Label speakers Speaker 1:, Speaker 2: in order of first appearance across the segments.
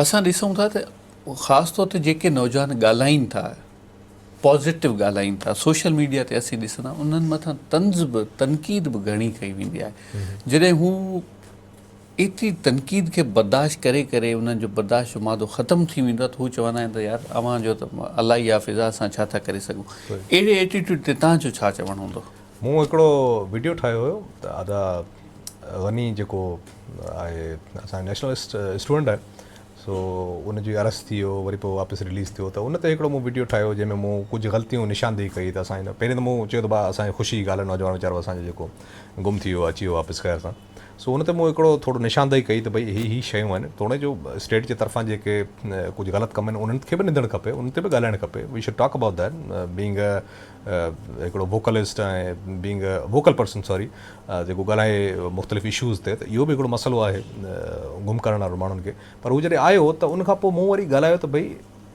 Speaker 1: اسان ڏسون ٿا ته خاص طور تي جيڪي نوجوان ڳالهائين ٿا پازيٽو ڳالهائين ٿا سوشل ميڊيا تي اسين ڏسون ٿا انهن مٿان طنز به تنقيد به گهڻي ڪئي ويندي آهي جڏهن هو ايتري تنقيد کي برداشت ڪري ڪري انهن جو برداشت جو مادو ختم ٿي ويندو آهي ته هو چوندا آهن ته يار اوهان جو ته الائي حافظ آهي اسان ڇا ٿا ڪري سگهون اهڙي ايٽيٽيوڊ تي تنهنجو ڇا چوڻ هوندو مون هڪڙو
Speaker 2: وڊيو ٺاهيو هيو ته ادا غني جيڪو آهي اسان جو نيشنل اسٽوڊنٽ آهي سو ان جي ارست ٿي ويو وري پوء واپس رليز ٿيو ته ان تي هڪڙو مون وڊيو ٺاهيو جنهن ۾ مون ڪجهه غلطيون نشاندهي ڪئي ته اسان جي پهرين ته مون چيو ته ڀاء اسان جي خوشي جي ڳالهه آهي نوجوان ويچارو اسان جو جيڪو گم ٿي ويو اچي ويو واپس خير سان سو ان تي مون هڪڙو ٿورو نشاندهي ڪئي ته ڀئي هي هي شيون آهن توڻي جو اسٽيٽ جي طرفان جيڪي ڪجهه غلط ڪم آهن انهن کي به نندڻ کپي انهن تي به ڳالهائڻ کپي we should talk about that being a هڪڙو vocalist ۽ being a vocal person sorry جيڪو ڳالهائي مختلف اشوز تي ته اهو به هڪڙو مسئلو آهي گم ڪرڻ وارو ماڻهن کي پر هو جڏهن آيو ته ان کان پوء مون وري ڳالهايو ته ڀئي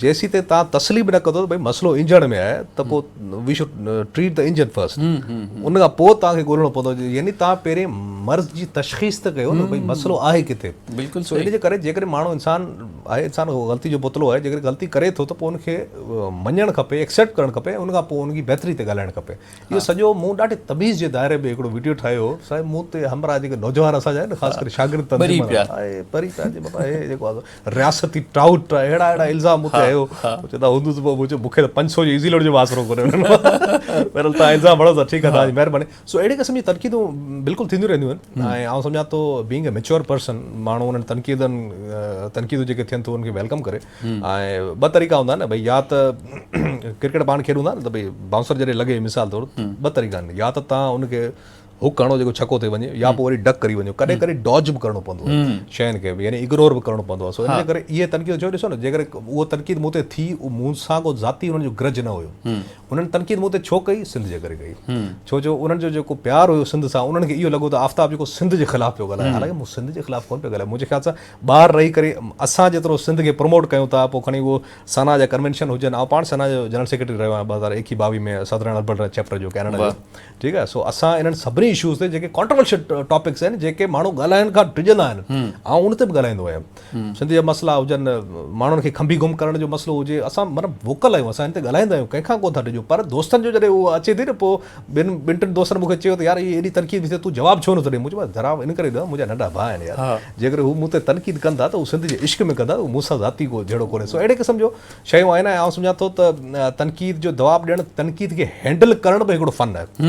Speaker 1: جيسيتائين توهان
Speaker 2: تسليم نه ڪندو ته ڀئي مسئلو انجڻ ۾ آهي ته پوء we should treat the engine first ان کان پوء توهان کي ڳولڻو پوندو يعني توهان پهرين مرض جي تشخيص ته ڪيو ته ڀئي مسئلو آهي ڪٿي بلڪل سو ان جي ڪري
Speaker 1: جيڪڏهن
Speaker 2: ماڻهو انسان آهي انسان غلطي جو پتلو آهي جيڪڏهن غلطي ڪري ٿو ته پوء ان کي مڃڻ کپي ايڪسيپٽ ڪرڻ کپي ان کان پوء ان جي بهتري تي ڳالهائڻ کپي اهو سڄو مون ڏاڍي تميز جي دائري ۾ هڪڙو وڊيو ٺاهيو هو سائين مون تي همراهه جيڪي نوجوان اسان جا آهن خاص ڪري شاگرد تنظيم وارا آهي پري پيا جي بابا هي جيڪو رياستي ٽائوٽ آهي اهڙا اهڙا الزام مون تي هيو چوندا هوندو ته مون چيو مون کي ته 500 جو ايزي لوڊ جو به آسرو ڪونهي انهن بهرحال تان الزام هڻو ٿا ٺيڪ آهي تان جي مهرباني سو اهڙي قسم جي تنقيدون بلڪل ٿينديون رهنديون آهن ۽ آئون سمجهان ٿو بينگ اي ميچور پرسن ماڻهو انهن تنقيدن تنقيدون جيڪي ٿين ٿو انهن کي ويلڪم ڪري ٻه طريقا هوندا آهن نه ڀئي يا ته ڪرڪيٽ پاڻ کيڏون ٿا نه ته ڀئي بائونسر جڏهن لڳي مثال طور ٻه طريقا آهن يا ته تان ان کي هڪ هڻو جيڪو ڇڪو ٿي وڃي يا پوء وري ڊڪ ڪري وڃو ڪڏهن ڪڏهن ڊاج به ڪرڻو پوندو آهي شين کي يعني اگنور به ڪرڻو پوندو آهي سو ان جي ڪري اهي تنقيدون جو ڏسو نه جيڪر اهو تنقيد مون تي ٿي مون سان ڪو ذاتي هن جو گرج نه هيو انهن تنقيد مون تي ڇو ڪئي سنڌ جي ڪري ڪئي ڇو جو انهن جو جيڪو پيار هيو سنڌ سان انهن کي اهو لڳو ته آفتاب جيڪو سنڌ جي خلاف پيو ڳالهائي حالانڪه مون سنڌ جي خلاف ڪونه پيو ڳالهائي منهنجي خيال سان ٻاهر رهي ڪري اسان جيترو سنڌ کي پروموٽ ڪيون ٿا پوء کڻي اهو سنا جا ڪنوينشن هجن آئون پاڻ سنا جو جنرل سيڪريٽري رهيو آهيان ٻه هزار ايڪيهه ٻاويهه ۾ سدرن البرٽ چيپٽر جو ڪينيڊا جو ٺيڪ آهي سو اسان انهن سڀني اشوز تي جيڪي ڪانٽرورشل ٽاپڪس آهن جيڪي ماڻهو ڳالهائڻ کان ڊڄندا آهن آئون ان تي به ڳالهائيندو آهيان سنڌ جا مسئلا هجن ماڻهن کي کنڀي گم ڪرڻ جو مسئلو هجي اسان مطلب ووڪل آهيون اسان ان تي ڳالهائيندا آهيون ڪنهن کان ڪو نه ٿا ڊڄون پر دوستن جو جڏهن اهو اچي ٿي نه پوء ٻن ٻن ٽن دوستن مون کي چيو ته يار اهي ايڏي تنقيد ڏسي تون جواب ڇو نٿو ڏين؟ مون چيو جناب ان ڪري ڏيان منهنجا ننڍا ڀاء آهن يار جيڪڏهن هو مون تي تنقيد ڪن ٿا ته هو سنڌ جي عشق ۾ ڪن ٿا اهو مون سان ذاتي ڪو جهيڙو ڪونهي سو اهڙي قسم جو شيون آهن ۽ آئون سمجهان ٿو ته تنقيد جو جواب ڏيڻ تنقيد کي هينڊل ڪرڻ به هڪڙو فن آهي